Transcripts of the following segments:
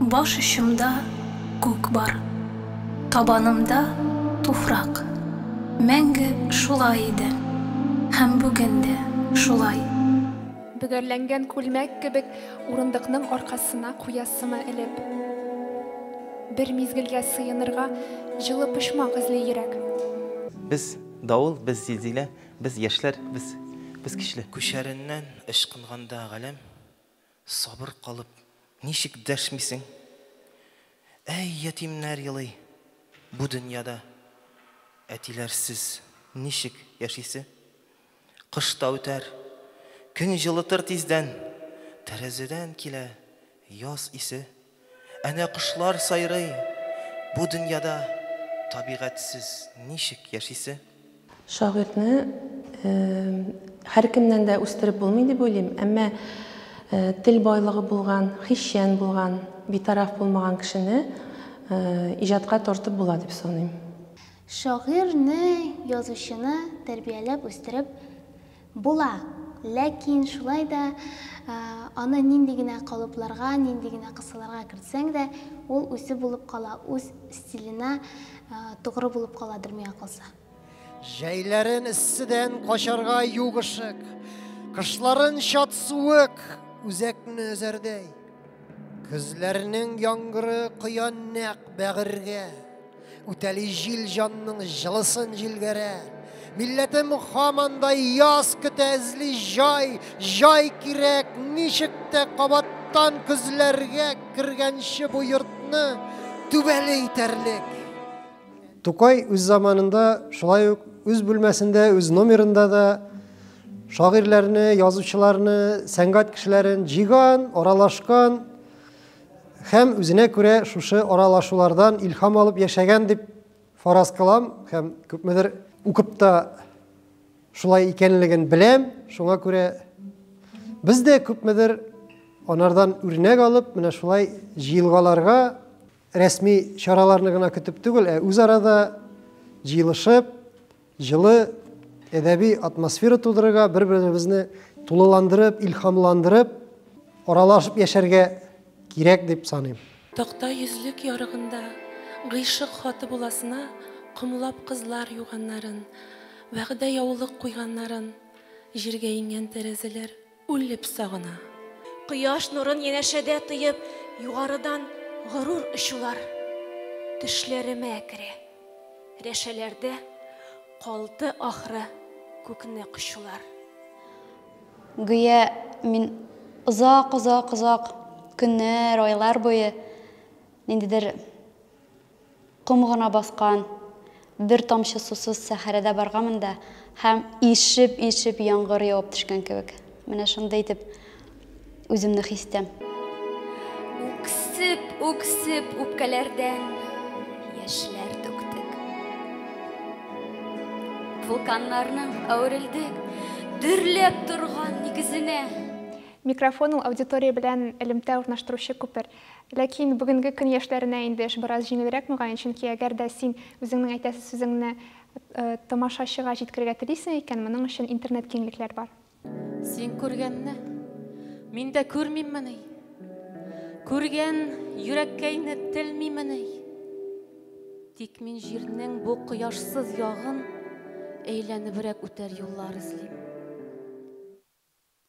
Баш очымда күк бар, табанымда туфрак. Мәңге шулай иде һәм бүген дә шулай. Бөгәрләнгән күлмәк кебек урындыкның аркасына куясымы элеп. Бер мизгелгә сыенырга җылы почмак эзли йөрәк. Без, давыл, без, зилзилә, без, яшьләр, без, без, көчле. Күчәреннән ычкынганда галәм. Сабыр калып, ничек дәшмисең? Әй, ятимнәр елый бу дөньяда. Әтиләрсез ничек яшисе? Кыш та үтәр, көн җылытыр тиздән. Тәрәзәдән килә яз исе. Әнә кошлар сайрый, бу дөньяда табигатьсез ничек яшисе? Шагыйрьне һәркемнән дә үстереп булмый дип уйлыйм, әмма тел байлыгы булган, хисчән булган, битараф булмаган кешене иҗатка тартып була дип саныйм. Шагыйрьне, язучыны тәрбияләп үстереп Була, ләкин шулай да аны нинди генә калыпларга, нинди генә кысаларга кертсәң дә, ул үзе булып кала, үз стиленә тугры булып каладыр миңа калса. Җәйләрен эсседән качарга юк ышык, кышларын чат суык үзәкне өзәрдәй, көзләрнең яңгыры коя нәкъ бәгырьгә. Үтәли җил җанның җылысын җилгәрә. Милләтем хаманда яз көтә эзли җай, җай кирәк, ничек тә кабаттан көзләргә кергәнче бу йортны түбәле итәрлек. Тукай үз заманында шулай ук үз бүлмәсендә, үз номерында да шагыйрьләрне, язучыларны, сәнгать кешеләрен җиган, аралашкан, Һәм үзенә күрә шушы аралашулардан илһам алып яшәгән дип фараз кылам һәм күпмедер укып та шулай икәнлеген беләм. Шуңа күрә без дә күпмедер анардан үрнәк алып, менә шулай җыелгаларга рәсми чараларны гына көтеп түгел, ә үз арада җыелышып, Җылы әдәби атмосфера тудырырга, бер-беребезне тулыландырып, илһамландырып, аралашып яшәргә кирәк дип саныйм. Такта йөзлек ярыгында гыйшык хаты буласына комлап кызлар юганнарын, вәгъдә яулык куйганнарын, җиргә иңгән тәрәзәләр. Үлеп сагына. Кояш нурын янәшәдә тоеп, югарыдан горур очулар төшләремә керә. Рәшәләрдә калды, ахры, күкне кочулар. Гүя мин озак-озак-озак көннәр, айлар буе ниндидер Ком гына баскан бер тамчы сусыз сәхәрәдә барганмын да һәм ишеп-ишеп яңгыр явып төшкән кебек. Менә шундый итеп үземне хис итәм. Үксеп-үксеп үпкәләрдән яшьләр түктек. Вулканнарның әверелдек дөрләп торган нигезенә. Микрофон ул аудитория белән элемтә урнаштыручы күпер. Ләкин бүгенге көн яшьләренә инде эш бераз җиңелрәк, мөгаен, чөнки әгәр дә син үзеңнең әйтәсе сүзеңне тамашачыга җиткерергә телисең икән, моның өчен интернет киңлекләр бар. Син күргәнне мин дә күрмиммени? Күргән йөрәккәйне телмимени? Тик мин җирнең бу кояшсыз ягын әйләнебрәк үтәр юллар эзлим.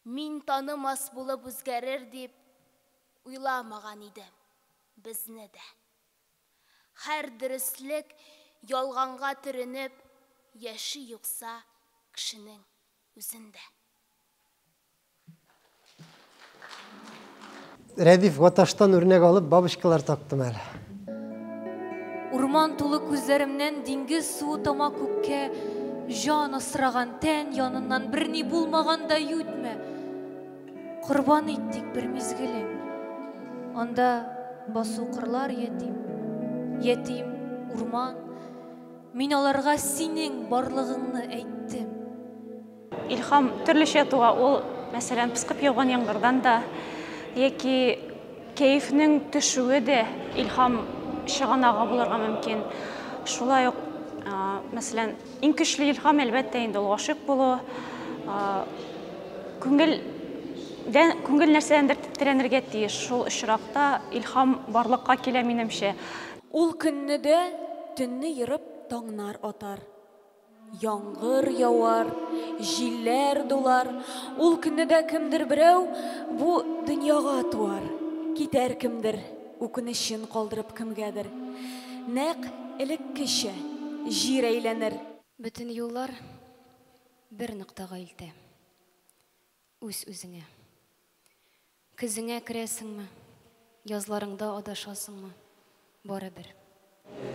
Мин танымас булып үзгәрер дип уйламаган идем безне дә. Хәр дөреслек ялганга төренеп яши юкса кешенең үзендә. Рәдиф Гаташтан үрнәк алып бабочкалар тактым әле. Урман тулы күзләремнән диңгез суы тама күккә, Җан асраган тән яныннан берни булмаган да ютмә. Корбан иттек бер мизгелен. Анда басу кырлар ятим, ятим урман. Мин аларга синең барлыгыңны әйттем. Илхам төрлечә туа, ул, мәсәлән, пыскып яуган яңгырдан да, яки кәефнең төшүе дә илхам чыганагы булырга мөмкин. Шулай ук, мәсәлән, иң көчле илхам, әлбәттә, инде ул гашыйк булу. Күңел күңел нәрсәдәндер тетрәнергә тиеш. Шул очракта илхам барлыкка килә, минемчә. Ул көнне дә төнне ерып, таңнар атар. Яңгыр явар, җилләр дулар, Ул көнне дә кемдер берәү Бу дөньяга туар. Китәр кемдер, үкенечен калдырып кемгәдер. Нәкъ элеккечә, җир әйләнер. Бөтен юллар бер ноктага илтә, үз-үзеңә. Көзеңә керәсеңме? Язларыңда адашасыңмы? Барыбер.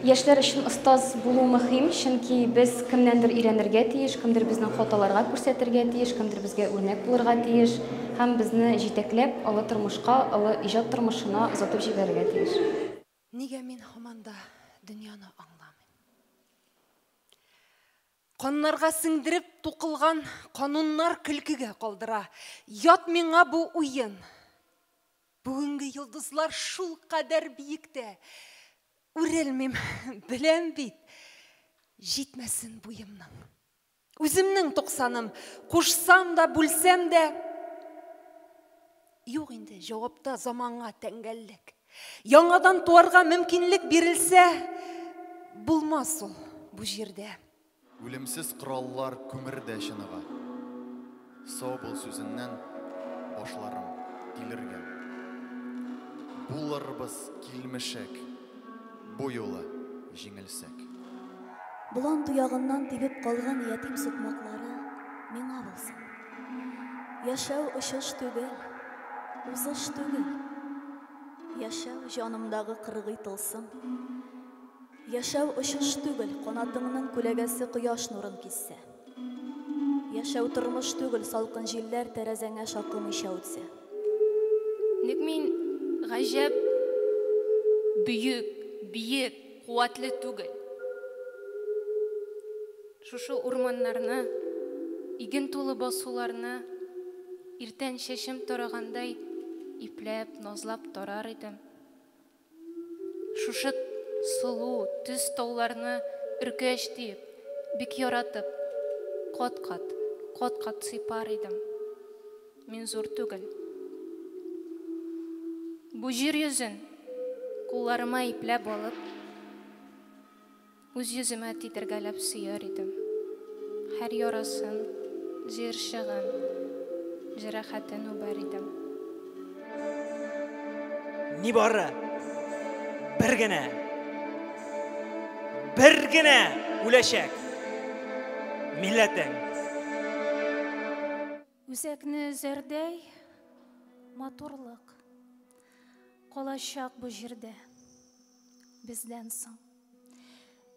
Яшьләр өчен остаз булу мөһим, чөнки без кемнәндер өйрәнергә тиеш, кемдер безнең хаталарга күрсәтергә тиеш, кемдер безгә үрнәк булырга тиеш һәм безне җитәкләп, олы тормышка, олы иҗат тормышына озатып җибәрергә тиеш. Нигә мин һаман да дөньяны аңламыйм? Каннарга сеңдереп тукылган кануннар көлкегә калдыра. Ят миңа бу уен! Бүгенге йолдызлар шул кадәр биектә. Үрелмим, беләм бит, җитмәсен буемның. Үземнең туксаным, кушсам да, бүлсәм дә. Юк инде, җавапта заманга тәңгәллек. Яңадан туарга мөмкинлек бирелсә, булмас ул бу җирдә. Үлемсез кораллар күмердә чыныга. Сау бул сүзеннән башларым илергә. Булырбыз килмешәк. Бу юлы җиңелсәк. Болан туягыннан тибеп калган ятим сукмаклары миңа булсын. Яшәү очыш түгел, узыш түгел. Яшәү җанымдагы кыргый тылсым. Яшәү очыш түгел, канатыңның күләгәсе кояш нурын киссә. Яшәү тормыш түгел, салкын җилләр тәрәзәңә шакымыйча үтсә. Ник мин гаҗәп бөек, биек, куәтле түгел? Шушы урманнарны, иген тулы басуларны иртән чәчем тарагандай ипләп, назлап тарар идем. Шушы сылу төс тауларны өркәч диеп, бик яратып, кат-кат, кат-кат сыйпар идем. Мин зур түгел. Бу җир йөзен кулларыма ипләп алып, Үз йөземә тидергәләп сөяр идем. Һәр ярасын, җыерчыгын, җәрәхәтен үбәр идем. Нибары бер генә, бер генә үләчәк милләтең. Үзәкне өзәрдәй матурлык калачак бу җирдә бездән соң.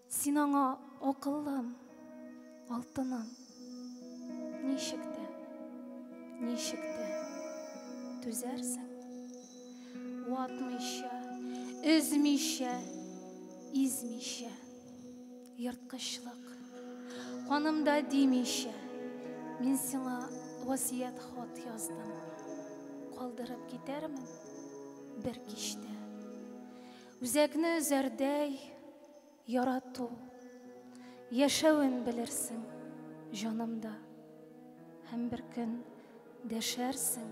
Син аңа акыллым, алтыным, ничек тә, ничек тә түзәрсең. Ватмыйча, өзмичә, измичә. Ерткычлык. Канымда димичә, мин сиңа васият хат яздым. Калдырып китәрмен бер кичтә. Үзәкне өзәрдәй ярату, яшәвен белерсең җанымда. Һәм бер көн дәшәрсең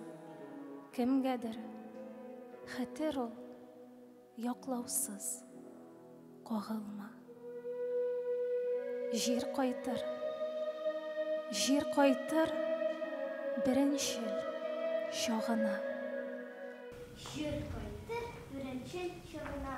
кемгәдер. Хәтер ул, Яклаусыз кагылма. Җир кайтыр. Җир кайтыр беренчел чагына. Җир кайтыр беренчел чагына.